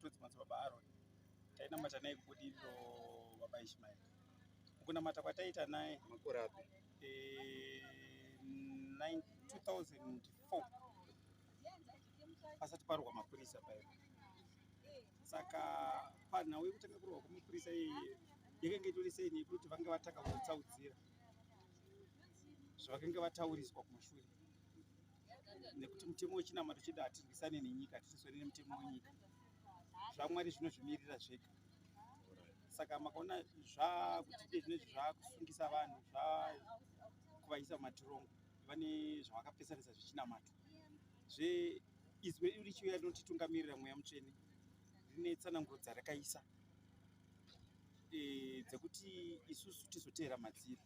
Todzi madzibaba Aaron tainamata naye kubudiriro baba Ishmael mukunamata kwataita naye makore api 2004 pasati parwa mapurisa paye saka panhau yekutanga kurwa kwemapurisa iyi yakanga itori sei nekuti vange vatanga kutsaudzira zvavakanga vatauriswa kumashure nekuti mutemo wechinamato chedu hatirwisane nenyika hatirwisane nemutemo wenyika zvamwari zvinozvimirira zvega saka makaona zvakuti iye zvinezvi zvakusungisa vanhu zvakuvaisa mumatirongo vane zvavakapesanisa zvechinamato zve izwi redu richiuya rinotitungamirira mweya mutsvene rine tsananguro dzarakaisa e, dzekuti isusu tizoteera madziri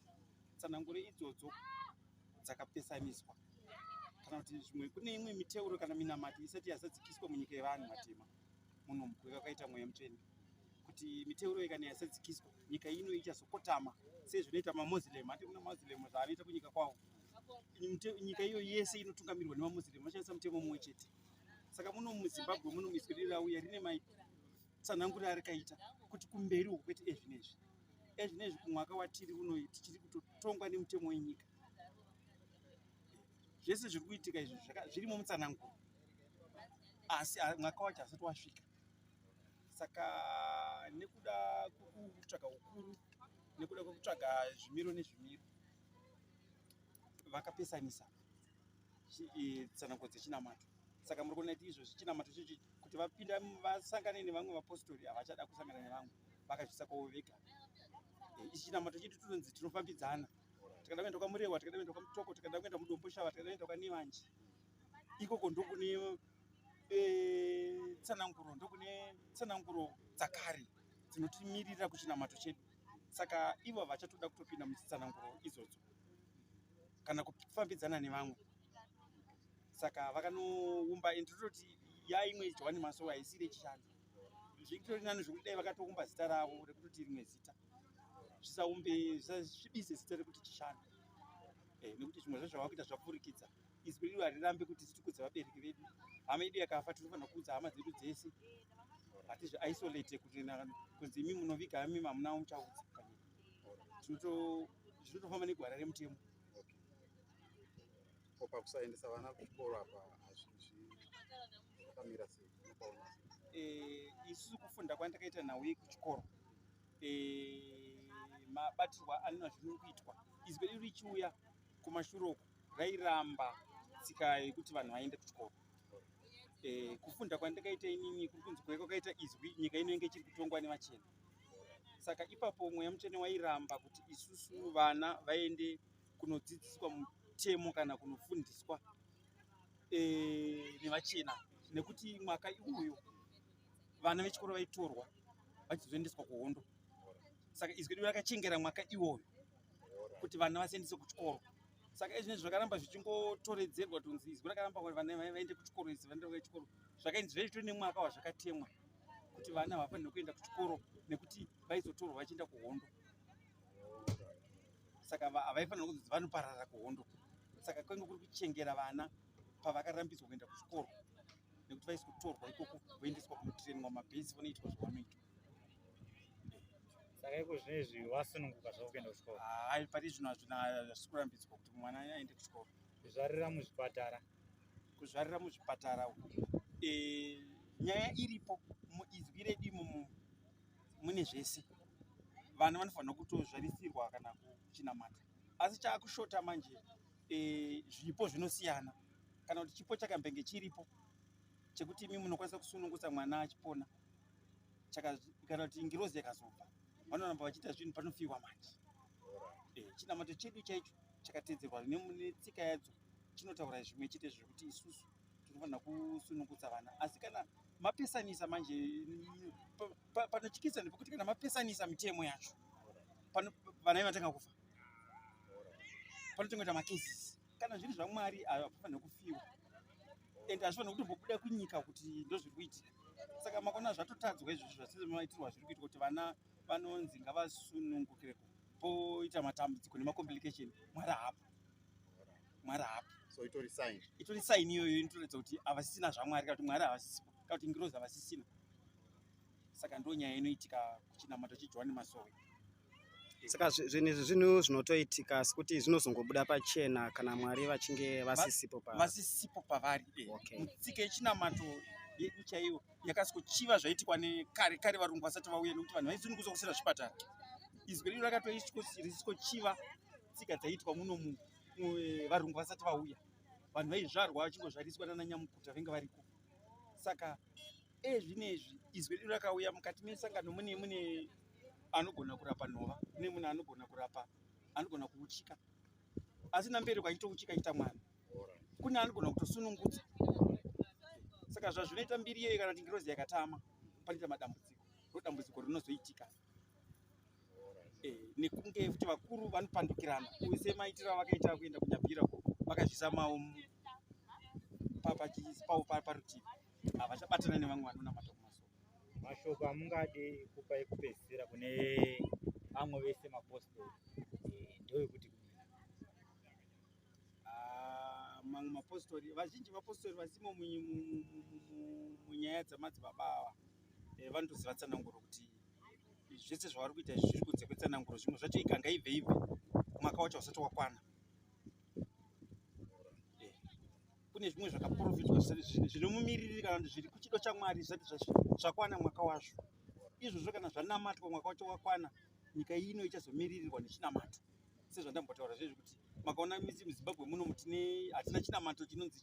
tsananguro idzodzo dzakapesaniswa kana kuti zvimwe kune imwe miteuro kana minamato isati yazadzikiswa munyika yevanhu vatema muno mukuve kwakaita mweya mutsvene kuti miteuro ikana yasadzikiswa nyika ino ichazokotama sezvinoita mamoslem ati kuna mamoslem zvaanoita kunyika kwavo nyika iyo yese inotungamirwa nemamoslem vashandisa mutemo mumwe chete saka muno muzimbabwe muno miswirira uya rine mai tsanangurira arikaita kuti kumberi uku kwete ezvinezvi ezvinezvi kumwaka watiri unoyi tichiri kutotongwa nemutemo wenyika zvese zviri kuitika izvi zvirimo mutsananguro asi mwaka wacho hasati wasvika saka nekuda kwekutsvaga ukuru nekuda kwekutsvaga zvimiro nezvimiro vakapesanisa tsanangudzo dzechinamato saka muri kuona kuti izvozvi chinamato chochi kuti vapinda vasangane nevamwe vapostori havachada kusangana nevamwe vakazvisa kwavo vega eh, ichi chinamato chedu tinonzi tinofambidzana tikada kuenda kwamurewa tikada kuenda kwamutoko tikada kuenda mudomboshava tikada kuenda kwanevanje ikoko ndokune eh, tsananguro ndokune tsananguro dzakare dzinotimirira kuchinamato chedu saka ivo vachatoda kutopinda muchitsananguro izodzo kana kufambidzana nevamwe saka vakanoumba and tototi yaimwe johani masowa haisiri yechishanda zvitori nani zvekuti dai vakatoumba zita ravo rekutoti rimwe zita zvisaumbe zvisvibise zita rekuti chishanda eh, nekuti zvimwe zvezvavakuita zvapfurikidza izwi rino harirambe kuti titukudze vabereki vedu hama yedu yakafa tinofanira kuudza hama dzedu dzese hatizvi isolate kuti kunzi imi munoviga imi hamuna muchaudza tinotofamba negwara remutemo ko pakusaendesa vana kuchikoro apa hazvikamira sei eh, isusu kufunda kwandakaita nhau yekuchikoro eh, mabatirwa anona zvinokuitwa izwi redu richiuya kumashure uku vairamba tsika yekuti vanhu vaende kuchikoro eh, kufunda kwandakaita inini kuri kunzi kuve kwakaita izwi nyika inenge ichiri kutongwa nevachena saka ipapo mweya mutsvene wairamba kuti isusu vana vaende kunodzidziswa mutemo kana kunofundiswa eh, nevachena nekuti mwaka iwoyo vana vechikoro vaitorwa vachizoendeswa kuhondo saka izwi redu rakachengera mwaka iwoyo kuti vana vasiyendise kuchikoro saka izvi nezvi zvakaramba zvichingotoredzerwa tonzi izwi rakaramba kuti vana vaende kuchikoro izwi vaende kuchikoro zvakainzi zvaitore nemwaka wazvakatemwa kuti vana havafanire kuenda kuchikoro nekuti vaizotorwa vachienda kuhondo saka havaifanira kunzi vanoparara kuhondo saka kwenge kuri kuchengera vana pavakarambidzwa kuenda kuchikoro nekuti vaisi kutorwa ikoko voendeswa kunotirenwa mabhesi vanoitwa zvavanoitwa saka iko zvino izvi wasununguka zvavo kuenda kuchikoro hai ah, pari zvino hazvina hazvisi kurambidzwa kuti mwana aende kuchikoro kuzvarira muzvipatara kuzvarira muzvipatara uku e, nyaya iripo muizwi redu imomo mune zvese vana vanofanira kutozvarisirwa kana kuchinamata asi chaakushota manje e, zvipo zvinosiyana kana kuti chipo chakambenge chiripo chekuti imi munokwanisa kusunungutsa mwana achipona kana kuti ngirozi yakazobva vanoramba vachiita zvinhu panofiwa manje eh, chinamato chedu chaicho chakatedzerwa netsika yadzo chinotaura zvimwe chete zvekuti isusu tinofanira kusunungutsa vana asi kana mapesanisa manje panotyisa nepekuti kana mapesanisa mitemo yacho vana ivatanga kufa panotongoita macases kana zviri zvamwari havafanira kufiwa and hazvifanira kutombobuda kunyika kuti ndozviri kuitika saka makona zvatotadzwa izvozvo zvasizvamaitirwa zviri kuitwa kuti vana vanonzi ngavasunungukire poita matambudziko nemacomplication mwari haapo mwari haapo so itori sign itori sign iyoyo inotoratidza kuti havasisina zvamwari kana kuti mwari havasisipo kana kuti ngirozi havasisina saka ndo nyaya inoitika kuchinamato chejohani masowe saka zvinhu izvi zvinhu zvinotoitika asi kuti zvinozongobuda pachena kana mwari vachinge vasisipo pavari vasisipo pavari eh. tsika yechinamato yedu chaiyo yakasikochiva zvaitikwa nekare kare varungu vasati vauya nekuti vanhu vaizini kuzokusira zvipatara izwi redu rakatoisikochiva tsika dzaiitwa muno eh, varungu vasati vauya vanhu vaizvarwa vachingozvariswa nana nyamukuta venge variko saka e zvinezvi izwi redu rakauya mukati mesangano mune mune anogona kurapa nhova mune mune anogona kurapa anogona kuuchika asi namberi kwaitouchika ita mwana kune anogona kutosunungudza saka zvazvinoita mbiri iyeyo kana kuti ngirozi yakatama panoita madambudziko ro dambudziko rinozoitika eh, nekunge kuti vakuru vanopandukirana use maitiro avakaita kuenda kunyabhira vakazvisa mawo paparutivi havachabatana nevamwe vanonamata kumasoko mashoko amungadi kupa ekupedzisira kune vamwe vese mapostori eh, ndoekuti ah, mamwe mapostori vazhinji mapostori vasimo munyaya dzamadzibaba ava eh, vanotoziva tsananguro kuti zvese zvavari kuita izvi zviri kunze kwetsananguro zvimwe zvacho ikanga ibve ibve mwaka wacho usati wakwana kune zvimwe zvakaprofitwa zvinomumiririri kana kuti zviri kuchido chamwari zvisati zvakwana mwaka wazvo izvozvo kana zvanamatwa mwaka wacho wakwana nyika ino ichazomiririrwa nechinamato sezvandambotaura zvezvi kuti makaona misi muzimbabwe muno mutine hatina chinamato chinonzi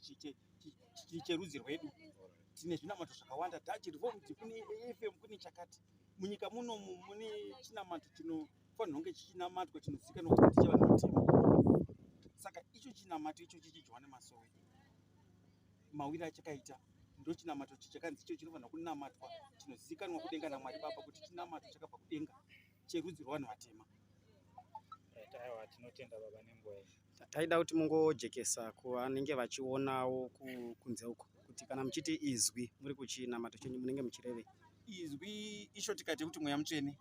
cherudzi rwedu tine zvinamato zvakawanda tachi revomti kune afm kune chakati munyika muno mune chinamato chino chino kufanirwa kunge chichinamatwa chinozikanwa kuti ndichevanhu vatema saka icho chinamato icho chichidyiwa nemasowe mawiri achakaita ndochinamato chichakanzi icho chinofanirwa kunamatwa chinozikanwa kudenga namwari baba kuti chinamato chakabva kudenga cherudzi rwevanhu vatema taiwa tinotenda baba nenguva iyi taida kuti mungojekesa kuvanenge vachionawo kunze uko kuti kana muchiti izwi muri kuchinamato chenyu munenge muchirevei izwi isho tikati kuti mweya mutsvene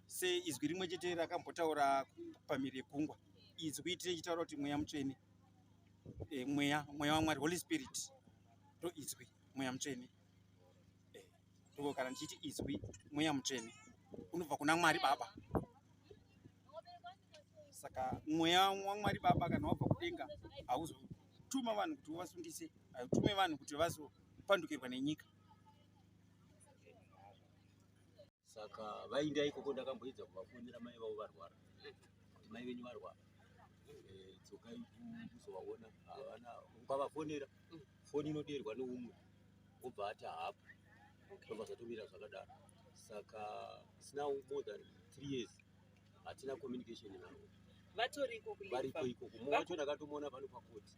seizwi rimwe chete rakambotaura pamhiri yegungwa izwi tichitaura kuti mweya mutsvene e, mweya mweya wamwari holy spirit ndo izwi mweya mutsvene e, eh, ndoko kana ndichiti izwi mweya mutsvene unobva kuna mwari baba saka mweya wamwari baba kana wabva kudenga hauzotuma vanhu kuti uvasungise hautume vanhu kuti vazopandukirwa nenyika saka vainda ikoko ndakamboedza kuvafonera mai vavo varwara kuti mai venyu varwara eh, tsokai kuzovaona havana ukavafonera foni inodeerwa neumwe obva ati haapo tobva zvatomira zvakadaro saka sina more than three years hatina communication navo vatoriko variko ikoko mumwe wacho ndakatomuona pano pakoti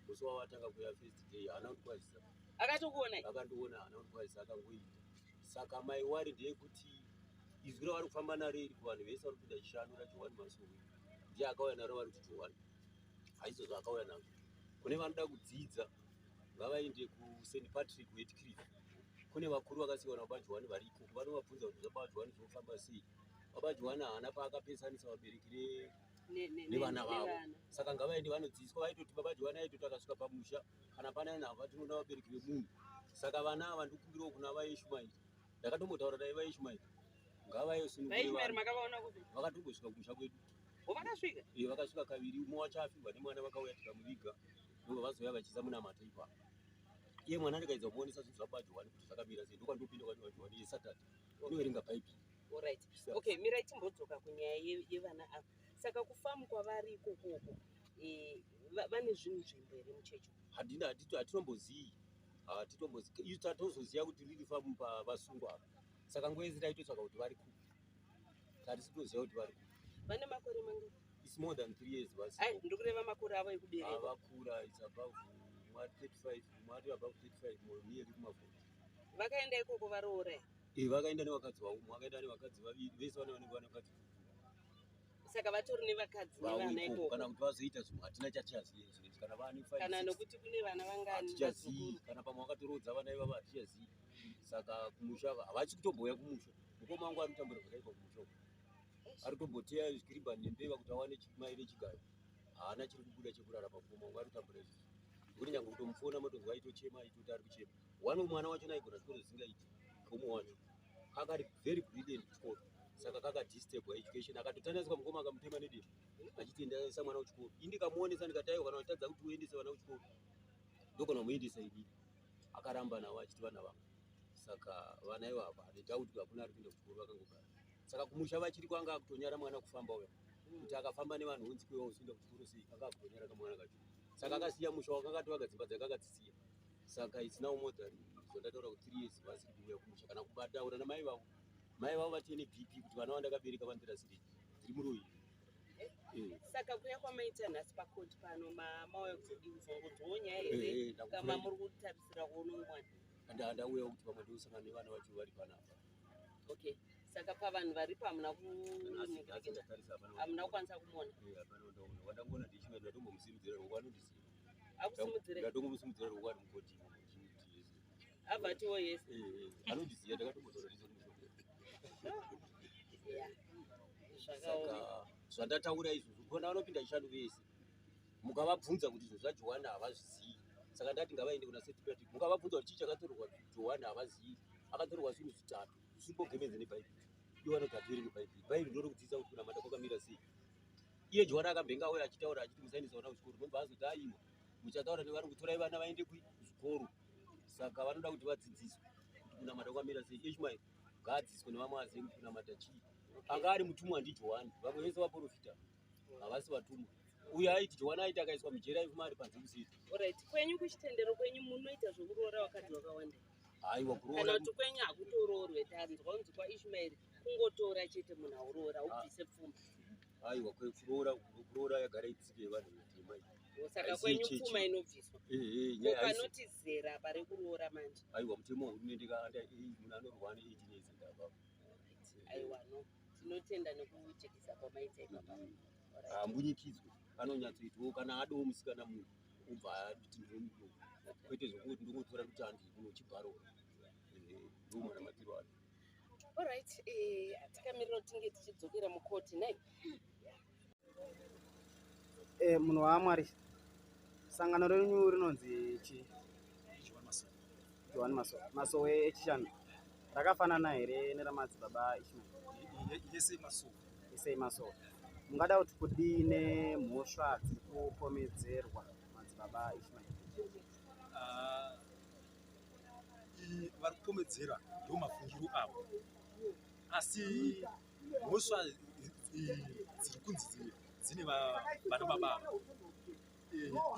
musi wavatanga kuya first day haana kundikwazisa akatokuonai akandiona haana kundikwazisa akangoita saka mai wari ndeyekuti izwi ravari kufamba naro iri kuvanhu vese vari kupinda chishanu rajohani masowe ndiye akauya naro vari kuti johani haiso zvaakauya nazvo kune vanoda kudzidza ngavaende kusaint patrick wetcliff kune vakuru vakasiwana baba johani vari ikoko vanovabvunza kuti zvababa johani zvinofamba sei baba johani haana paakapesanisa vabereki nevana vavo saka ngavaende vanodzidziswa vaitoti baba johani aitoti akasvika pamusha kana pana ina hava tinoda vabereki vemunhu saka vana ava ndikumbirawo kuna vaishmaeri ndakatombotaura dai vaishmaeri ngavayosinvakatongosvika kumusha kwedu vakasvika eh, vakasvika kaviri umwe wacho afirwa nemwana vakauya tikamuviga ndobva vazouya vachiisa munamato ipa iye mwana ndikaedza kumuonesa zvinhu zvabajohwani kuti zvakamira sei ndokwandopinda kwajohwani yesaturday unoverenga bhaibheri orit okay mirai timbodzoka kunyaya yevana ava saka kufamu kwavari ikokoko eh, vane zvinhu nzvimbo here muchechi handina hatitombozivi hatitombozivi tatozoziva kuti riri famu pavasungwa ava saka nguva yese taitotsvaka kuti vari kupi hatisi kutoziva kuti vari kupi vane makore mangu its more than three years basi ndikureva makore avo ekubereka vakura its above mwa 35 mwa above 35 mwa near kumavhoti vakaenda ikoko varoora e eh, vakaenda nevakadzi vavo vakaenda nevakadzi vaviri vese vane vanenge vane vakadzi saka vatori nevakadzi nevana ikoko kana kuti vazoita zvimwe hatina chatichazivi zvinezvi kana vane kana nokuti kune vana vangani hatichazivi kana pamwe vakatoroodza vana ivava hatichazivi saka kumusha havasi kutomboya kumusha mukoma wangu anotambura zvakaipa kumusha uku ari kutomboteya zvikiriba nembeva kuti awane mai vechigayo haana chiri kubuda chekurara pamukoma wangu anotambura izvi kuti nyange kutomufona motonzwa aitochema aitoti ari kuchema wani mwana wacho naigona zvikoro zvisingaiti komo wacho kakari very brilliant kuchikoro saka kaka disturb education akatotandaiswa mukoma akamutema nedemo achiti ndaisa mwana kuchikoro ini ndikamuonesa ndikati aiwa kana uchitadza kuti uendese vana kuchikoro ndokana kumuendesa ini akaramba navo achiti vana vangu saka vana ivo hapa nedoubt hakuna ari kuenda kuchikoro vakangogara saka kumusha vachiri kwanga akutonyara mwana kufamba uya kuti akafamba nevanhu hunzi kwewa uchienda kuchikoro sei anga akutonyara kamwana kacho saka akasiya musha wakanga tovaka dzimba dzake akatsisiya saka it's now more than zvandataura kuti three years vasiri kuuya kumusha kana kubataura namai vavo mai vavo vati ine bp kuti vana vandakabereka vandira siri tiri muroyi eh, eh. saka kuya kwamaita nhasi pakoti pano mauya kuzodinzongodzoo nyaya eh, here kama muri kutarisira kuono mwana ndauya kuti pamwe ndiusangana nevana vacho vari panapa okay saka pavanhu varipo hamuna kuhamuna kukwanisa kumona vandangoona ndichimwe ndatombomusimudzira ngokuti vanondiziva akusimudzire ndatongumusimudzira roko ari mukoti abva atiwo yes eh, eh, eh. anondiziva ndakatombotora ndizo saka zvandataura izvo zvokona vanopinda chishanu vese mukavabvunza kuti izvo zvajohana havazivi saka ndati ngavaende kuna setipati mukavabvunza kuti chii chakatorerwa johani havazivi akatorerwa zvinhu zvitatu zvisingogemenze nebhaibheri iwanogadziri nebhaibheri bhaibheri ndinoda kudzidzisa kuti kunamata kwakamira sei iye jwara akabhenga auya achitaura achiti musaendesa vana kuzvikoro nobva azoti aiwa muchataura nevari kutorai vana vaende kuzvikoro saka vanoda kuti vadzidziswe kuti kunamata kwamira sei ishmael ngaadzidziswe nevamwe azive kuti kunamata chii anga ari mutumwa ndijohani vamwe vese vaprofita havasi vatumwa uye aiti jowana aiti akaiswa mujera ifuma ari panze kusiri orit kwenyu kuchitendero kwenyu munoita zvekuroora wakadzi wakawanda haiwa kuroora kana kuti kwenyu hakutoroorwe tanzwa unzi kwaishmaeri kungotora chete munhu auroora ah. ubvise pfuma aiwa kuroora kuroora yagara itsike yevanhu vetema saka kwenyu pfuma inobviswa panoti zera pari kuroora manje aiwa mutemo wehurumende kaanda munhu anorwa ane eighteen years and above aiwa no tinotenda nekujekisa kwamaita ipapa hambunyikidzwe ah, anonyatsoitwawo kana adowo musikana munhu ubva ati ndinomudo kwete zvokuti ndongotora kuti andii kunochibharoa ndomwana matiro acho Alright, eh, takamirira kuti tinge tichidzokera mukoti nei? Eh, munhu waamwari sangano renyu rinonzi chi johani masowe masowe echishanu rakafanana here neramadzibaba ishmael yese masowe isei masowe mungada kuti kudii nemhosva dziri kupomedzerwa madzibaba ishmael Ah, vari kukomedzera ndiwo mafungiro avo asi mhosva dziri kunzi dzimwe dzine vana baba ava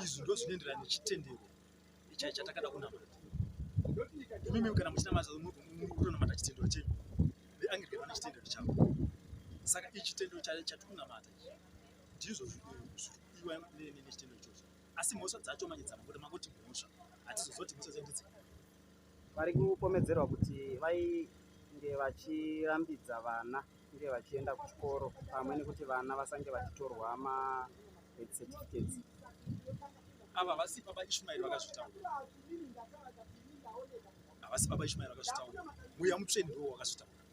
izvi ndo zvinoenderana nechitendero ichai chatakada kunamata imimi kana muchinamata mutonamata chitendero chenyu veanglican vane chitendero chavo saka ichitendero chatiri kunamata ndizvo zviri kuiwa nechitendero ichocho asi mhosva dzacho manje dzamabuda mangoti mhosva hatizozoti mhosva dzacho ndidzi vari kupomedzerwa kuti vainge vachirambidza vana kunge vachienda kuchikoro pamwe nekuti vana vasange vachitorwa mabirth certificates ava havasi baba ishmaeri vakazvitaura havasi baba ishmaeri vakazvitaura muya mutsveni ndiwo wakazvitaura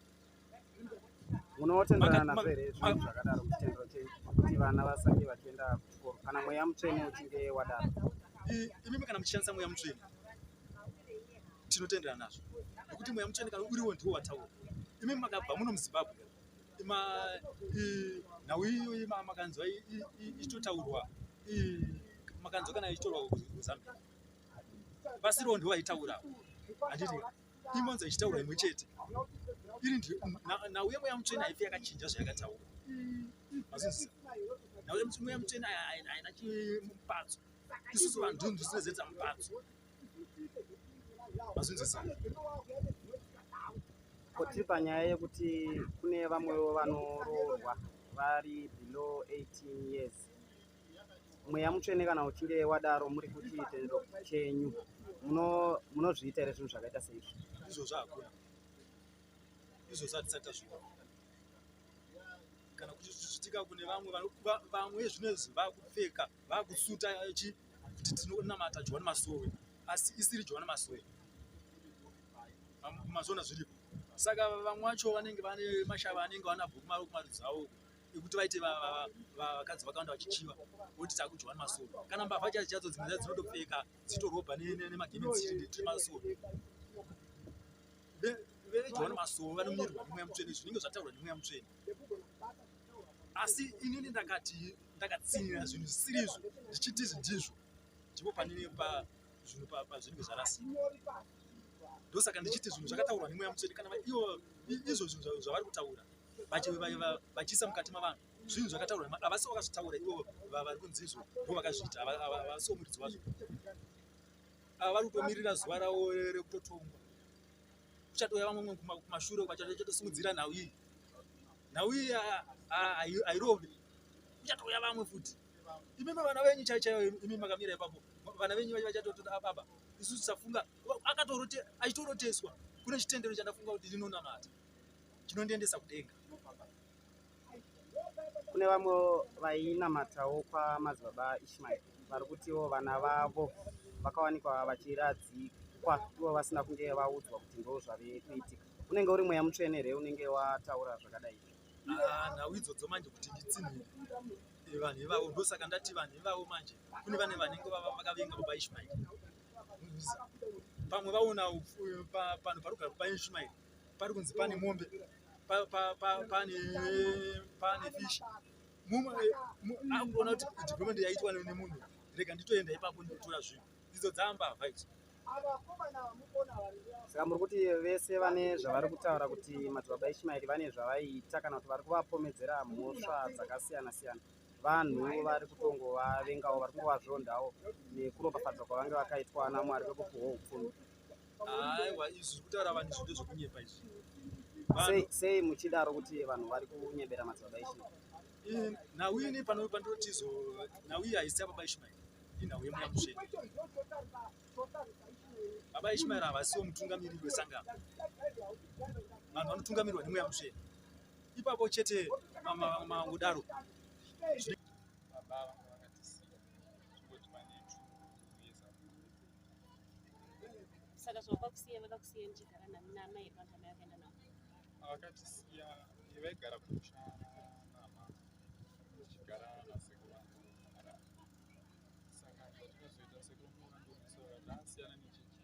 munotenderana nazvo here zvinhu zvakadaro muchitendero chenyu kuti vana vasange vachienda kuchikoro kana mweya mutsvene uchinge wadaro imimi kana muchishandisa mweya mutsvene tinotenderana nazvo nekuti mweya mutsvene kana uriwo ndiwo wataura imimi makabva muno muzimbabwe nhau iyoyi makanzwa ichitotaurwa makanzwa kana ichitorwa kuzambia vasiriwo ndiwo vaitaurawo handiti imonzi achitaura imwe chete iri ndi nhau yemweya mutsvene haifi yakachinja zvayakataura mazvinzisa nhau yemweya mutsvene haina chimupadzo isusu vanhu ndini zvisina zeta mupadzo mazvinzisa koti panyaya yekuti kune vamwewo vanoroorwa vari below 18 years mweya mutsvene kana uchinge wadaro muri kuti chitendero chenyu munozviita here zvinhu zvakaita seizvi izvozvo hakuna izvozvo hatisati tazviona kana kuti zvichiitika kune vamwe vamwe zvinezvi vakupfeka vakusuta chi kuti tinonamata johani masowe asi isiri johani masowe mazona zviripo saka vamwe vacho vanenge vane mashava anenge vanabhuku mari kumarudzi avo ekuti vaite vakadzi vakawanda vachichiva voti takudyiwa nemasoro kana mbavha chadzo chadzo dzimwe dzadzo dzinotopfeka dzitorobha nemagementsimasoro vedyiwa nemasoro vanomirwa nemweya mutsvene zvinenge zvataurwa nemweya mutsvene asi inini ndakati ndakatsinira zvinhu zvisiri izvo zvichiti izvi ndizvo ndipo panini pazvinhu pazvinenge zvarasika ndosaka ndichiti zvinhu zvakataurwa nemweya mutsvene kana ivo izvo zvinhu zvavari kutaura vachiisa mukati mavanhu zvinhu zvakataurwa havasi vakazvitaura ivo vari kunzi izvo vo vakazviita havasi womuridzi wazvo ava vari kutomirira zuva ravo rekutotongwa kuchatouya vamwe kumashure vachatosimudzira nhau iyi nhau iyi hairovi kuchatouya vamwe futi imimi vana venyu chai chaiyo imimi makamira ipapo vana venyu vachatotoda ababa isu tisafunga akatoroteswa kune chitendero chandafunga kuti ndinonamata chinondiendesa kudenga kune vamwe vainamatawo kwamadzibaba ishmaeri vari kutiwo vana vavo vakawanikwa vachiradzikwa ivo vasina kunge vaudzwa kuti ndo zvave kuitika unenge uri mweya mutsvene here unenge wataura zvakadai ah, nhau idzodzo manje kuti nditsinhire eh, vanhu ivavo ndosaka ndati vanhu ivavo manje kune vane vanenge vava vakavenga baba ishmaeri pamwe vaona eh, panhu parugara baba ishmaeri pari kunzi pane mombe pane pane fish mumwe akuona kuti development yaitwa nemunhu rega nditoenda ipapo ndikutora zvinhu idzo dzamba vibes saka muri kuti vese vane zvavari kutaura kuti madzibaba ishimaeri vane zvavaiita kana kuti vari kuvapomedzera mhosva dzakasiyana siyana vanhu vari kutongovavengawo vari kungovazvondawo nekuropafadzwa kwavange vakaitwa namwari vekupuhwa upfumi aiwa izvi zviri kutaura vanhu izvi ndezvekunyepa izvi sei muchidaro kuti vanhu vari kunyebera madzibaba ishmael nhau ini pano pandotizo nhau iyi haisi yababa ishmael inhau yemweya mutsvene baba ishmael havasiwo mutungamiriri wesangano vanhu vanotungamirwa nemweya mutsvene ipapo chete mangudaro saka zvavakakusiya vakakusiya ndichigara nani naamai here vanhu amai vakaenda navo vakatisiya vaigara kumusha nama ndichigara nasekuru vangu saka zvatizoita sekuru vangu ndasiyana nechechi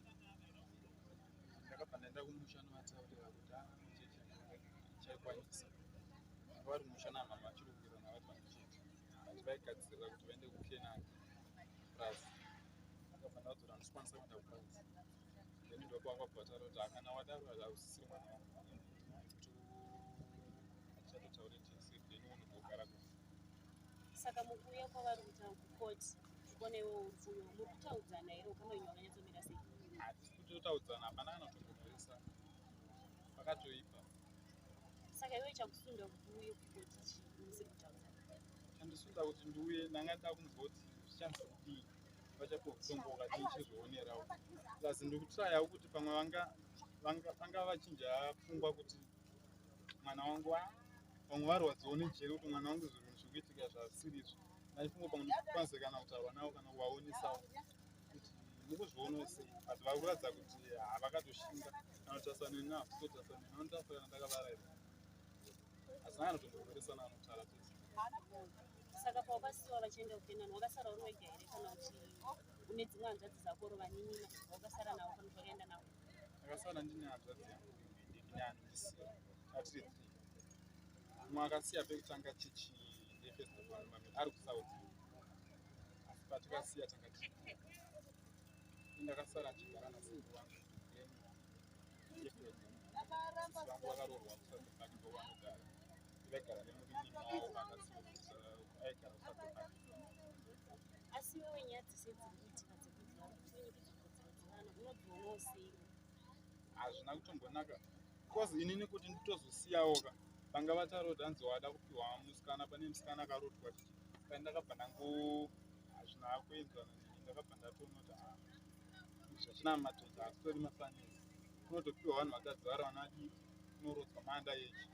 ndakabva ndaenda kumusha novataurira kuti achechi chaikwanisa vari musha namama vachiri kuwira navati vandichiti vaigadzirira kuti vaende kukenani plus saka mukuuya kwavari kuita kukoti kuona iwo upfuyo muri kutaudzana here ukama inyu wakanyatsomira sei hatisi kutotaudzana hapana kana kutongomhoresa pakatoipa saka iwe chakusunda kuti uye kukoti chii musiri kutaudzana chandisunda kuti ndiuye ndanga nda kunzwa kuti zvichanzwa vachakokutongoka tichizvionerawo plus ndikutraya kuti pamwe vanga vanga vachinja pfungwa kuti mwana wangu ah, vamwe varwadziwo nejeri kuti mwana wangu zvinhu zvikuitika zvasirizvo naifungo pamwe ndikwanise kana kutaurwa navo kana kuvaonesawo kuti mukuzviono sei but vari kuratidza kuti havakatoshinga kana kutarisana navo totarisana navo nditarisana ndakavaraira asi naye anotongoveresana anotaura tese saka pawakasiwa vachienda kukenani wakasara uri wega here kana uchi une dzimwe hanzvadzi dzako ro vaninina wakasara navo kana zvakaenda navo akasara ndine hanzvadzi yangu ndinanisiya atiri three umwe akasiya pekutanga chichi nefestivamame ari kusouth asi patikasiya tanga tii indakasara ndichigara nasingu wangu vangu vakarorwa kusati vangu vangogara asi wewe nyaya dzese dziri kuitika dzekuti vanhu unogona usei hazvina kutombonaka bcause inini kuti nditozosiyawoka vanga vataroti hanzi wada kupiwa musikana pane musikana akarotwa ti kai ndakabva ndangu hazvina kuenzana neni ndakabva ndatonoti a ah, zvachina matoza hasitori mafanisi kunotopiwa vanhu vatadzi vari vanadii kunorodzwa maanda yechi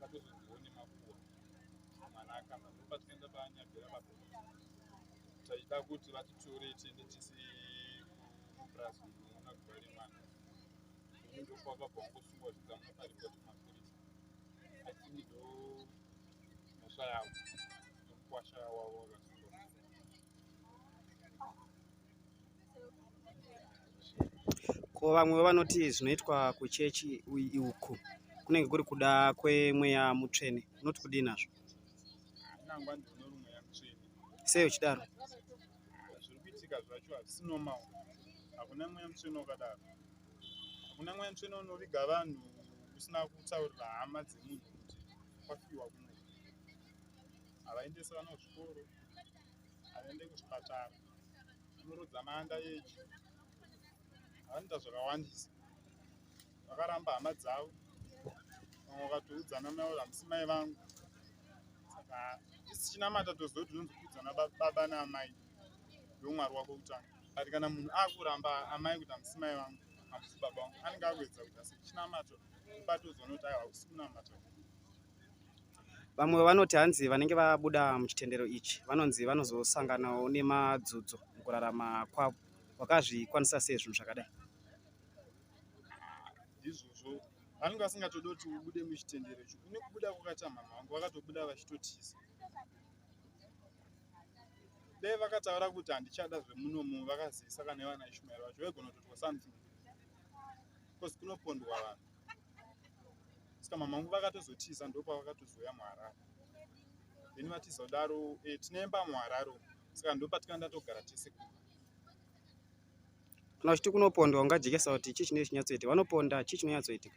vakuzondione makuwa zvamanaka manje patikaenda panyabhera papo tachida kuti vatitore tiende tisi kupurazi unoona guva remwana ndokwava bwangosungwa zvikamwa paripoti mapurisa atini ndo mhosva yavo nomukwasha wavo wakasungwa ko vamwe vanoti zvinoitwa kuchechi uku kunenge kuri kuda kwemweya mutsvene unoti kudii nazvo sei uchidaro zviri kuitika zvacho hazvisi normal hakuna mweya mutsvene wakadaro hakuna mweya mutsvene unoviga vanhu usina kutaurira hama dzemunhu kuti kwafiwa kuno havaendese vana kuzvikoro aende kuchipatara anorudza manda yeji anoita zvakawandisa vakaramba hama dzavo vamwe vakatoudzana mai hamusi mai vangu saka isichinamata toziva kuti tinozoudzana baba naamai ndomwari wako kutanga but kana munhu akuramba amai kuti hamusi mai vangu hamusi baba vangu anenge akuedza kuti asichinamato ubatozoona kuti aiwa usikunamata Vamwe vanoti hanzi vanenge vabuda muchitendero ichi vanonzi vanozosanganawo nemadzudzo mukurarama kwavo. Wakazvikwanisa sei zvinhu zvakadai? Ndizvozvo vanenge vasingatodi kuti ubude muchitendero ichi. Kune kubuda kwakaita mhamha vangu vakatobuda vachitotiza. Dai vakataura kuti handichada zvemunomu vakazivisa kana ivana Ishmael vacho vaigona kutotwa something. Because kunopondwa vanhu. saka mama vangu vakatozotiza ndopavakatozoya muharare then vatiza kudaro e, eh, tinemba muharare saka ndopatikana ndatogara tese ku kana uchiti kunopondwa ungajekesa kuti chii chine chinyatsoitika vanoponda chii chinonyatsoitika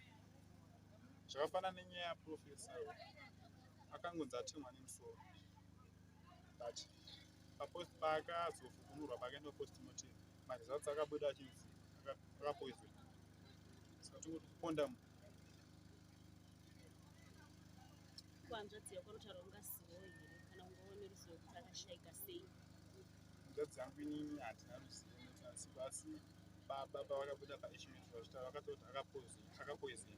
zvakafanana nenyaya yaprofesa akangonzi atemwa nemusoro but papost paakazofukunurwa pakaenda postmotim maresults akabuda achinzi akapoison saka tiri kuti kondam kuhanzvadzi yako anotaura ungazivo here kana ungaone ruzivo kuti akashaika sei hanzvadzi yangu inini hatina ruzivo nekuti basi baba pavakabuda paishment vachitaura vakatoti akapoison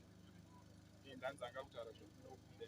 iye ndanzi anga kutaura zvekunokuda